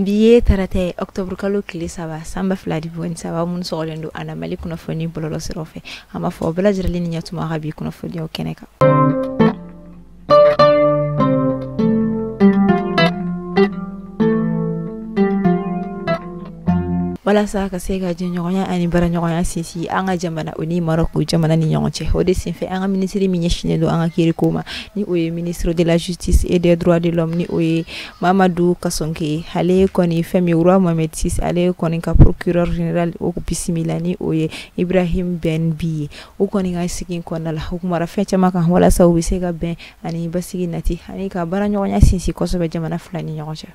bi ye tarata ye octobre kalo tile saba san ba fila ni mugan ni saba minnu sɔgɔlen don an na mali kunnafoni bɔlɔlɔ siraw fɛ an b'aw fo bɛɛ lajɛlen ni ɲɛtuma ka bi kunnafoniyaw kɛnɛ kan walasa ka se ka jɛɲɔgɔnya ani baaraɲɔgɔnya sinsin an ka jamana o ni marɔku jamana ni ɲɔgɔn cɛ o de senfɛ an ka minisiri min ɲɛsinnen don an ka kiiriko ma ni o ye ministre de la justice et des droits de l'homme ni o ye mamadu kasoge ale kɔni fɛn min roi mohamed six ale kɔni ka procureur général o bisimila ni o ye ibrahim ben bi ye u kɔni ka sigi in kɔnɔna la u kumara fɛn caman kan walasa u bɛ se ka bɛn ani basigi nati ani ka baara ɲɔgɔnya sinsin kosɛbɛ jamana fila ni ɲɔgɔn cɛ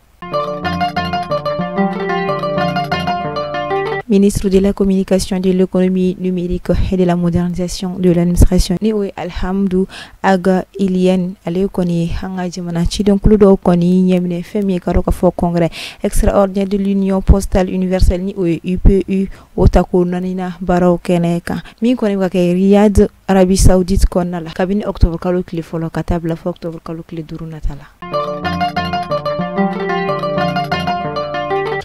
ministre de la communication de l'économie numérique et de la modernisation de l'administration ni o ye alihamdu aga ilyène ale kɔni ye an ka jamana cidenkulu dɔw kɔni ɲɛminɛ fɛn min ye k'a dɔn k'a fɔ congrès extraordinaire de l'union postale universelle ni o ye upu o tako naaninan baaraw kɛnɛ kan min kɔni bɛ ka kɛ riyad arabie saoudite kɔnɔna la kabini octobre kalo tile fɔlɔ ka taa bila fɔ octobre kalo tile duuru nata la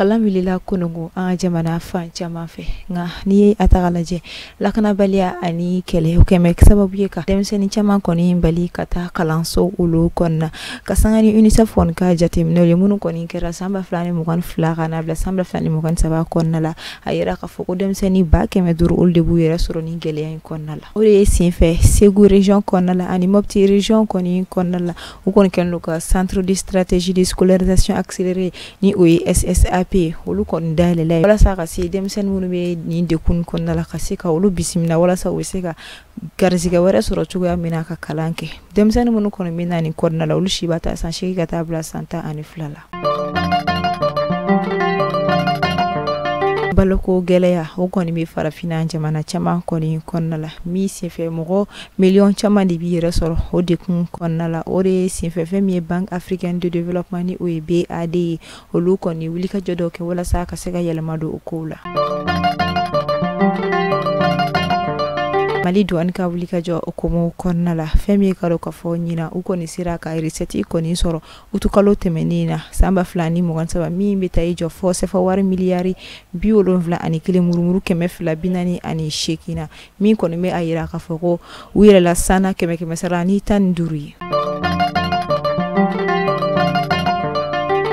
kalan wulila kununko an ka jamana fan caman fɛ nka n'i ye a ta k'a lajɛ lakanabaliya ani kɛlɛ o kɛlen bɛ sababu ye ka denmisɛnnin caman kɔni bali ka taa kalanso olu kɔnɔna ka sanga ni UNICEF kɔni ka jateminɛw ye minnu kɔni kɛra san ba fila ni mugan fila ka na bila san ba fila ni mugan saba kɔnɔna la a yira k'a fɔ ko denmisɛnnin ba kɛmɛ duuru olu de b'u yɛrɛ sɔrɔ nin gɛlɛya in kɔnɔna la o de ye senfɛ Segu region kɔnɔna la ani Mopti region kɔni kɔnɔna la u kɔni kɛlen don ka centre de stratégie de scolarisation accélérée ni o ye SSAP ye olu kɔni dayɛlɛ walasa ka se denmisɛnnin minnu bɛ nin dɛgun kɔnɔna la ka se ka olu bisimila walasa u bɛ se ka garisɛgɛ wɛrɛ sɔrɔ cogoya min na ka kalan kɛ denmisɛnnin minnu kɔni bɛ na nin kɔnɔna la olu si b'a ta san seegin ka taa bila san tan ani fila la baloko gɛlɛya o kɔni bɛ farafinna jamana caman kɔni kɔnɔna la min senfɛ mɔgɔ miliyɔn caman de b'i yɛrɛ sɔrɔ o dɛgun kɔnɔna la o de ye senfɛ fɛn min ye banque africaine de développement ni o ye BAD ye olu kɔni wulikajɔ dɔ kɛ walasa ka se ka yɛlɛma don o kow la mali duwani ka wulikajɔ hukumu kɔnɔna la fɛn min ye k'a dɔn k'a fɔ ɲina u kɔni sera ka resɛti kɔni sɔrɔ utukalo tɛmɛnin na san ba fila ni mugan saba min bɛ taa i jɔ fɔ sɛfawari miliyari bi wolonfila ani kelen murumuru kɛmɛ fila binani ani seegin na min kɔni bɛ a yira k'a fɔ ko u yɛlɛla san na kɛmɛ kɛmɛsara ni tan ni duuru ye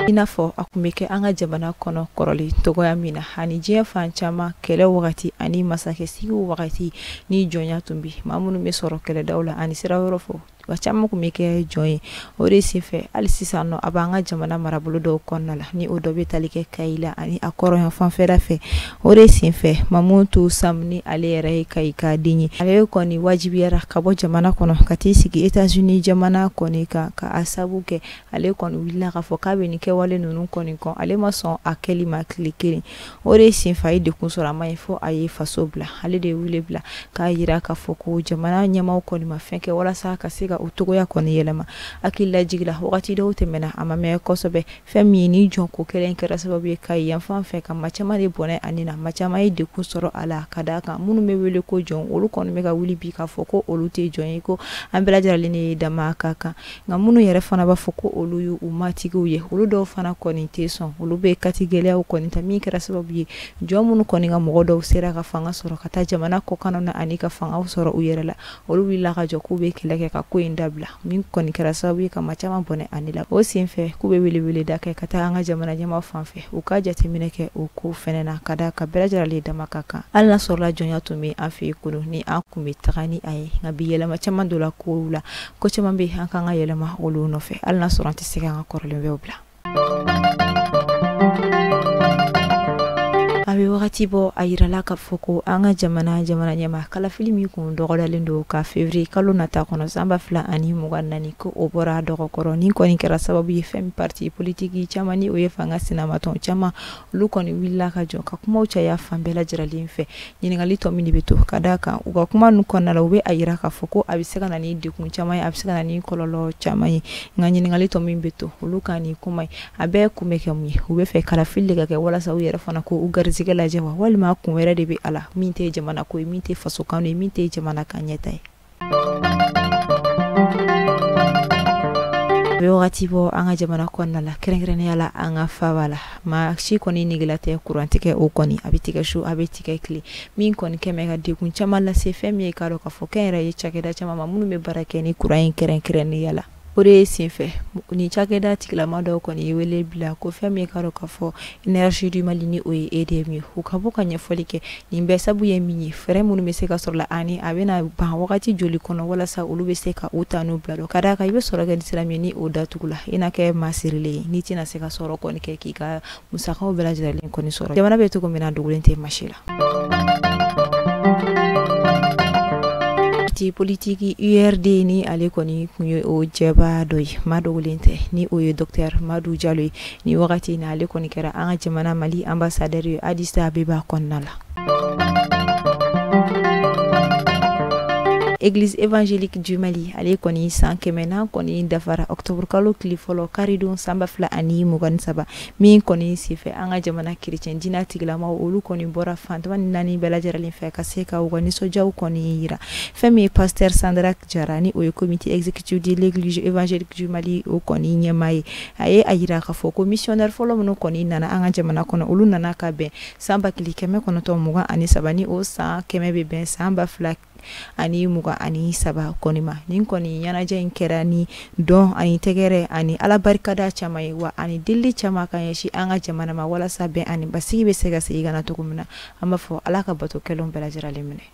i n'a fɔ a tun bɛ kɛ an ka jamana kɔnɔ kɔrɔlen cogoya min na ani diɲɛ fan caman kɛlɛ wagati ani masakɛsigi wagati ni jɔnya tun bɛ ma minnu bɛ sɔrɔ kɛlɛdaw la ani sira wɛrɛw fɔ wa caman tun bɛ kɛ jɔn ye o de senfɛ hali sisan nɔ a b'an ka jamana marabolo dɔw kɔnɔna la ni o dɔ bɛ tali kɛ kayi la ani a kɔrɔyan fanfɛla fɛ o de senfɛ mamutu sam ni ale yɛrɛ ye kayi ka den ye ale kɔni wajibiyara ka bɔ jamana kɔnɔ ka t'i sigi etats unis jamana kɔni kan ka a sabu kɛ ale kɔni wulila k'a fɔ k'a bɛ nin kɛwale ninnu kɔni kɔn ale ma sɔn a kɛli ma tile kelen o de senfɛ a ye degun sɔrɔ a ma ye fɔ a ye faso bila ale de ye wele bila k'a yira k'a fɔ ko jamana ɲɛmaw kɔni ma fɛn kɛ walasa ka se ka u cogoya kɔni yɛlɛma hakili lajigi la wagati dɔw tɛmɛna a ma mɛn kosɛbɛ fɛn min ye nin jɔnko kɛlɛ kɛra sababu ye kayi yanfan fɛ ka ma caman de bɔnɛ a ni na ma caman ye degun sɔrɔ a la ka d'a kan minnu bɛ wele ko jɔn olu kɔni bɛ ka wuli bi k'a fɔ ko olu tɛ jɔn ye ko an bɛɛ lajɛralen ne ye dama ka kan nka minnu yɛrɛ fana b'a fɔ ko olu ye u matigiw ye olu dɔw fana kɔni tɛ sɔn olu bɛ kati gɛlɛyaw kɔni ta min kɛra sababu ye jɔn minnu kɔni ka mɔgɔ dɔw sera ka fanga sɔrɔ ka taa jamana kɔkanna na ani ka fangaw sɔrɔ u yɛrɛ la olu wulila ka jɔ k'u bɛ kɛlɛ kɛ ka ko in dabila min kɔni kɛra sababu ye ka ma caman bɔnɛ a ni la o senfɛ k'u bɛ weleweleda kɛ ka taa an ka jamana ɲɛmaw fan fɛ u ka jateminɛ kɛ o ko fɛnɛ na ka d'a kan bɛɛ lajɛralen dama ka kan hali n'a sɔrɔla jɔnya tun bɛ an fɛ yen kunun ni an tun bɛ taga ni a ye nka bi yɛlɛma caman donna ko la ko caman bɛ an ka kan ka yɛlɛma olu nɔfɛ hali n'a sɔrɔ an tɛ se k'an ka kɔrɔlen bɛɛ bila a bɛ wagati bɔ a yirala k'a fɔ ko an ka jamana jamana ɲɛma kalafili min kun dɔgɔdalen don ka fevriye kalo nata kɔnɔ san ba fila ani mugan nani ko o bɔra dɔgɔkɔrɔ nin kɔni kɛra sababu ye fɛn min parti politiki caman ni o ye fanga sinamatɔn caman olu kɔni wulila ka jɔ ka kumaw caya fan bɛɛ lajɛralen fɛ ɲininkali tɔ min de bɛ to ka d'a kan u ka kuma ninnu kɔnɔna la u bɛ a yira k'a fɔ ko a bɛ se ka na ni degun caman ye a bɛ se ka na ni kɔlɔlɔ caman ye nka ɲininkali tɔ min bɛ to olu ka nin kuma ye a bɛɛ kun bɛ kɛ mun ye u b'a fɛ kalafili de ka kɛ walasa u yɛrɛ fana k'u garisigɛ lajɛ wa walima kun wɛrɛ de bɛ a la min tɛ jamana ko ye min tɛ fasokanu ye min tɛ jamana ka ɲɛtaa ye bɛ wagati bɔ an ka jamana kɔnɔna la kɛrɛnkɛrɛnnenya la an ka faba la maa si kɔni nege la tɛ kurantigɛ o kɔni a bɛ tigɛ su a bɛ tigɛ tile min kɔni kɛlen bɛ ka degun caman lase fɛn min ye k'a dɔn k'a fɔ kɛnyɛrɛye cakɛda caman ma minnu bɛ baara kɛ ni kuran ye kɛrɛnkɛrɛnnenya la o de ye senfɛ nin cakɛda tigilama dɔw kɔni ye wele bila ko fɛn min ye k'a dɔn k'a fɔ energie du mali ni o ye edm ye u ka bɔ ka ɲɛfɔli kɛ nin bɛ sabu ye min ye fɛɛrɛ minnu bɛ se ka sɔrɔ a la ani a bɛna ban wagati joli kɔnɔ walasa olu bɛ se ka u ta n'u bila dɔn ka da a kan i bɛ sɔrɔ kɛ ni sira min ye ni o datugula i na kɛ maa sirilen ye ni i tɛna se ka sɔrɔ kɔni kɛ k'i ka musakaw bɛɛ lajɛlen kɔni sɔrɔ jamana bɛ cogo min na dogolen tɛ maa si la parti politiki urd ni ale kɔni kun ye o cɛba dɔ ye maa dogolen tɛ ni o ye dɔktɛr madu jalo ye ni wagati na ale kɔni kɛra an ka jamana mali anbasadɛri ye adisabeba kɔnɔna la Eglise évangélique du Mali ale kɔni san kɛmɛnan kɔni dafara octobre kalo tile fɔlɔ karidon san ba fila ani mugan saba min kɔni senfɛ an ka jamana kerecɛn diinɛ tigilamaw olu kɔni bɔra fan tan ni naani bɛɛ lajɛlen fɛ ka se ka u ka nisɔndiyaw kɔni yira fɛn min ye pasteur Sadrac Jara ni o ye comité exécutif de l'église évangélique du Mali o kɔni ɲɛmaa ye a ye a yira k'a fɔ ko missionnaire fɔlɔ minnu kɔni nana an ka jamana kɔnɔ olu nana ka bɛn san ba kelen kɛmɛ kɔnɔntɔn mugan ani saba ni o san kɛmɛ bɛ bɛn san ba fila ani mugan ani saba kɔni ma nin kɔni ɲɛnajɛ in kɛra ni dɔn ani tɛgɛrɛ ani ala barikada caman ye wa ani deli caman ka ɲɛsin an ka jamana ma walasa bɛn ani basigi bɛ se ka segin ka na cogo min na an b'a fɔ ala ka bato kɛlen bɛɛ lajɛlen minɛ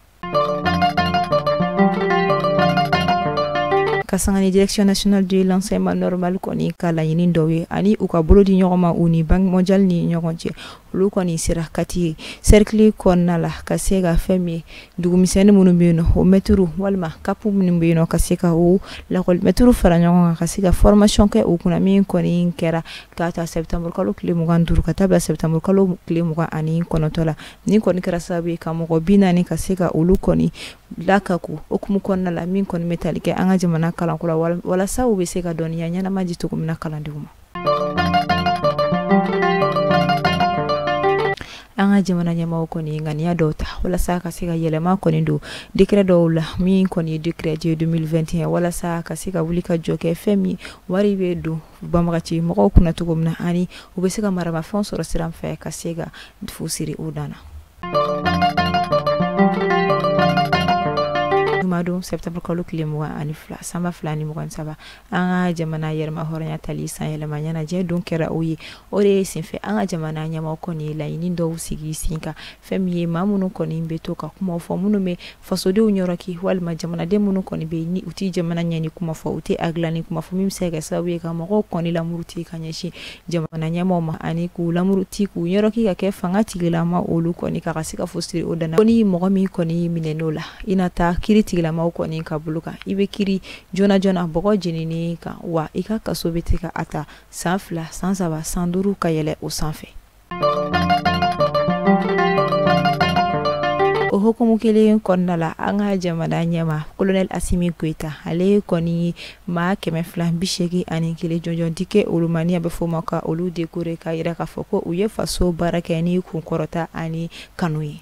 ka sanga ni direction nationale de l'enseignement normal kɔni ka laɲini dɔw ye ani u ka bolo di ɲɔgɔn ma u ni banque mondiale ni ɲɔgɔn cɛ olu kɔni sera kati cercle kɔnɔna la ka se ka fɛn min ye dugumisɛnnin minnu bɛ yen nɔ o mɛtiriw walima kapu minnu bɛ yen nɔ ka se ka o lakɔli mɛtiriw fara ɲɔgɔn kan ka se ka formation kɛ u kunna min kɔni kɛra k'a ta septembre kalo tile mugan duuru ka taa bila septembre kalo tile mugan ani kɔnɔntɔn la Nin kɔni kɛra sababu ye ka mɔgɔ bi naani ka se ka olu kɔni lakeku o hukumu kɔnɔna la min kɔni bɛ tali kɛ an ka jamana kalanko la walasa u bɛ se ka dɔnniya ɲɛnama di cogo min na kalandenw ma an ka jamana ɲɛmaa kɔni ye ŋaniya dɔw ta walasa ka se ka yɛlɛma kɔni don décret dɔw la min kɔni ye décret de 2021 walasa ka se ka wuli ka jɔ kɛ fɛn min ye wari bɛ don banbagaci mɔgɔw kunna cogo min na ani u bɛ se ka maramafɛnw sɔrɔ sira min fɛ ka se ka fu siri u dan na jumadon septembre kalo tile mugan ani fila san ba fila ni mugan saba an ka jamana yɛrɛma hɔrɔnya tali san yɛlɛma ɲɛnajɛ don kɛra o ye o de ye senfɛ an ka jamana ɲɛmaa kɔni ye laɲini dɔw sigi sen kan fɛn min ye maa minnu kɔni bɛ to ka kuma fɔ minnu bɛ fasodenw ɲɔrɔki walima jamanaden minnu kɔni bɛ ni u tɛ jamana ɲɛni kuma fɔ u tɛ a dilanni kuma fɔ min bɛ se ka sababu ye ka mɔgɔw kɔni lamuruti ka ɲɛsin jamana ɲɛmaaw ma ani k'u lamuruti k'u ɲɔrɔki ka kɛ fanga tigilama olu kɔni kan ka se ka fu siri o dan na ko ni mɔgɔ min kɔni minɛna o la i na taa kiri tigilamaw kɔni ka bolo kan i bɛ kiri joona joona bɔgɔ jeninen kan wa i ka kaso bɛ tigɛ ka a ta san fila san saba san duuru ka yɛlɛ o sanfɛ o hukumu kelen kɔnɔna la an ka jamana ɲɛmaa kolonɛl asimi goyita ale kɔni ye maa kɛmɛ fila bi seegi ani kelen jɔnjɔn di kɛ olu ma ni a bɛ fɔ ma ka olu dekore k'a yira k'a fɔ ko u ye faso baara kɛ ni kunkɔrɔta ani kanu ye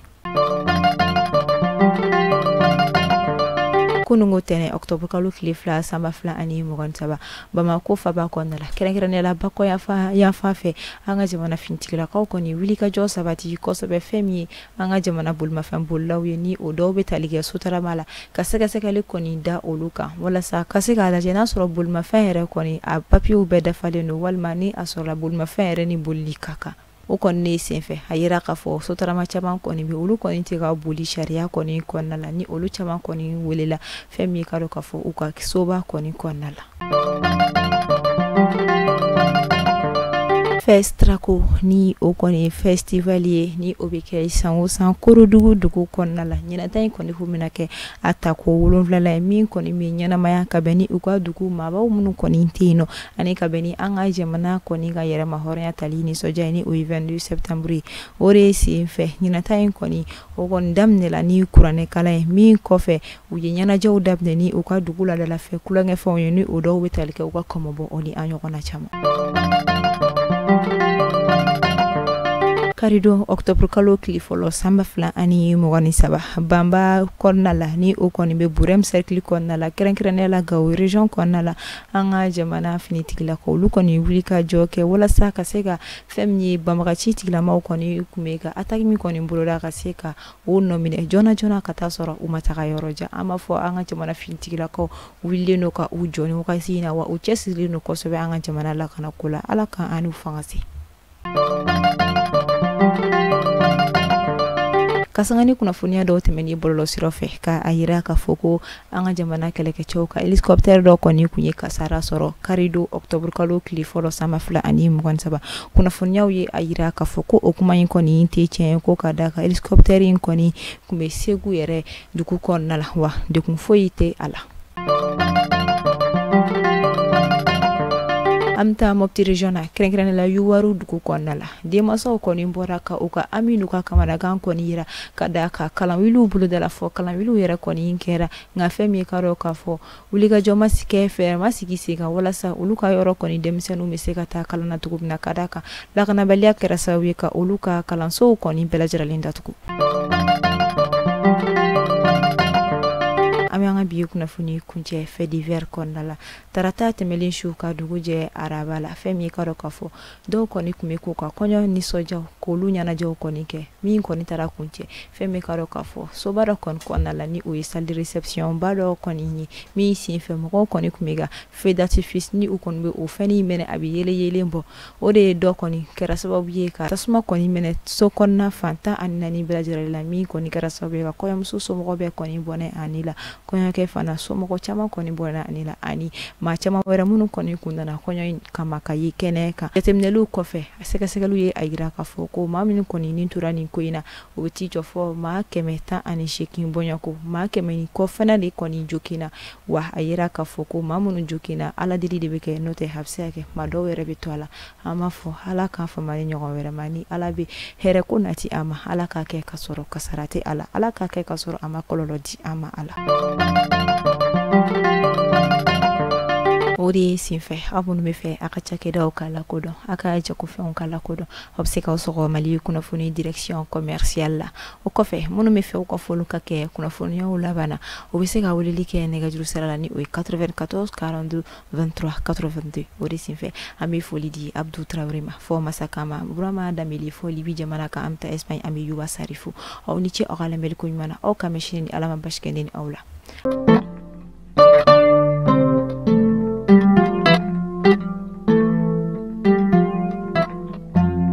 kununko tɛnɛn octobre kalo tile fila san ba fila ani mugan saba bamako faaba kɔnɔna la kɛrɛnkɛrɛnnenya la bakɔ yanfan fɛ an ka jamana finitigilakaw kɔni wulikajɔ sabati kosɛbɛ fɛn min ye an ka jamana bolimafɛn bolilaw ye ni o dɔw bɛ tali kɛ sotarama la ka sɛgɛsɛgɛli kɔni da olu kan walasa ka se k'a lajɛ n'a sɔrɔ bolimafɛn yɛrɛ kɔni a papiyew bɛɛ dafalen don walima ni a sɔrɔla bolimafɛn yɛrɛ ni bolili ka kan o kɔni ne senfɛ a yira k'a fɔ sotarama caman kɔni bɛ olu kɔni tɛ ka boli sariya kɔni kɔnɔna la ni olu caman kɔni welela fɛn min ye k'a dɔn k'a fɔ u ka soba kɔni kɔnɔna la fɛsitrako ni o kɔni ye fɛsitivali ye ni o bɛ kɛ san o san korodugu dugu kɔnɔna la ɲinan ta in kɔni o bɛna kɛ a tako wolonfilanan ye min kɔni bɛ ɲɛnamaya ka bɛn ni u ka dugu maabaw minnu kɔni tɛ yen nɔ ani ka bɛn ni an ka jamana kɔni ka yɛrɛmahɔrɔnya tali nisɔndiya ye ni o ye 22 septembre ye o de sen fɛ ɲinan ta in kɔni o kɔni daminɛla ni kuranɛ kalan ye min kɔfɛ u ye ɲɛnajɛw daminɛ ni u ka dugu laadalafɛ tulonkɛfɛnw ye ni o dɔw bɛ tali kɛ u ka kɔmɔbɔ o ni a ɲɔgɔnna caman karidon octobre kalo tile fɔlɔ san ba fila ani mugan ni saba banba kɔnɔna la ni o kɔni bɛ burɛm cercle kɔnɔna la kɛrɛnkɛrɛnnenya la gawo region kɔnɔna la an ka jamana finitigilakaw olu kɔni wulikajɔ kɛ walasa ka se ka fɛn min ye banbaganci tigilamaw kɔni tun bɛ ka ataki min kɔni boloda ka se ka o nɔ minɛ joona joona ka taa sɔrɔ u ma taga yɔrɔ jan an b'a fɔ an ka jamana finitigilakaw wulilen don ka u jɔ nin wagati in na wa u cɛsirilen don kosɛbɛ an ka jamana lakanako la ala k'an n'u fanga se kasanga ni kunnafoniya dɔw tɛmɛnen bɔlɔlɔ sira fɛ ka a yira k'a fɔ ko an ka jamana kɛlɛkɛcɛw ka helicoptère dɔ kɔni kun ye kasara sɔrɔ kari don octobre kalo tile fɔlɔ san ba fila ani mugan saba kunnafoniyaw ye a yira k'a fɔ ko o kuma in kɔni tɛ tiɲɛ ko ka da kan helicoptère in kɔni kun bɛ segu yɛrɛ dugu kɔnɔna la wa degun foyi tɛ a la an bɛ taa mɔpti region na kɛrɛnkɛrɛnnen la yuwaru dugu kɔnɔna la denmansaw kɔni bɔra ka u ka hami n'u ka kamanagan kɔni yira ka da kan kalanwiliw bolodala fɔ kalanwiliw yɛrɛ kɔni kɛra nka fɛn min ye k'a dɔn k'a fɔ wulikajɔ ma se ka kɛ fɛɛrɛ ma sigi sen kan walasa olu ka yɔrɔ kɔni denmisɛnninw bɛ se ka taa kalan na cogo min na ka da kan lakanabaliya kɛra sababu ye ka olu ka kalansow kɔni bɛɛ lajɛlen datugu an bɛ an ka bi kunnafoni kuncɛ faits divers kɔnɔna la tarata tɛmɛnlen su ka dugu jɛ araba la fɛn min ye k'a dɔn k'a fɔ dɔw kɔni tun bɛ k'u ka kɔɲɔ nisɔndiyaw k'olu ɲɛnajɛw kɔni kɛ min kɔni taara kuncɛ fɛn min k'a dɔn k'a fɔ soba dɔ kɔni kɔnɔna la ni o ye salle de réception ba dɔ kɔni ye min senfɛ mɔgɔw kɔni tun bɛ ka feu d'artifice ni u kɔni bɛ o fɛn in mɛnɛ a bɛ yeelen bɔ o de dɔ kɔni kɛra sababu ye ka tasuma kɔni mɛnɛ so kɔnɔna fan tan ani naani bɛɛ lajɛlen la min kɔni kɛra sababu ye ka kɔɲɔmuso somɔgɔw bɛɛ kɔni bɔnɛ a ni la kɔɲɔkɛ fana somɔgɔ caman kɔni bɔnɛna a ni la ani maa caman wɛrɛ minnu kɔni kun nana kɔɲɔ in kama ka ye kɛnɛ kan jateminɛliw kɔfɛ a sɛgɛsɛgɛliw ye a yira k'a fɔ ko maa minnu kɔni ni tora nin ko in na o bɛ t'i jɔ fɔ maa kɛmɛ tan ani seegin bɔɲɔgɔnko maa kɛmɛ ni kɔ fana de kɔni joginna wa a yira k'a fɔ ko maa minnu joginna ala deli de bɛ kɛ n'o tɛ a bɛ se ka kɛ maa dɔw yɛrɛ bɛ to a la an b'a fɔ ala k'an fama nin ɲɔgɔn wɛrɛ ma ni ala bɛ hɛrɛ ko nati an ma ala k'a kɛ ka sɔrɔ kasara tɛ a la ala k'a kɛ ka sɔrɔ a ma kɔlɔlɔ di an ma a la o de ye senfɛ aw minnu bɛ fɛ a ka cakɛdaw ka lakodɔn a ka jagofɛnw ka lakodɔn aw bɛ se k'aw sɔgɔ mali kunnafoni direction commerciale la o kɔfɛ minnu bɛ fɛ u ka foliw ka kɛ kunnafoniyaw laban na o bɛ se ka weleli kɛ nɛgɛjuru sira la ni o ye 94 42 23 82 o de senfɛ an bɛ foli di abdu tarawele ma fɔ masakama burama danbele fɔ libi jamana kan an bɛ taa espagne an bɛ yuba sari fo aw ni ce aw ka lamɛnli ko ɲuman na aw k'an bɛn sini ni ala ma baasi kɛ ne ni aw la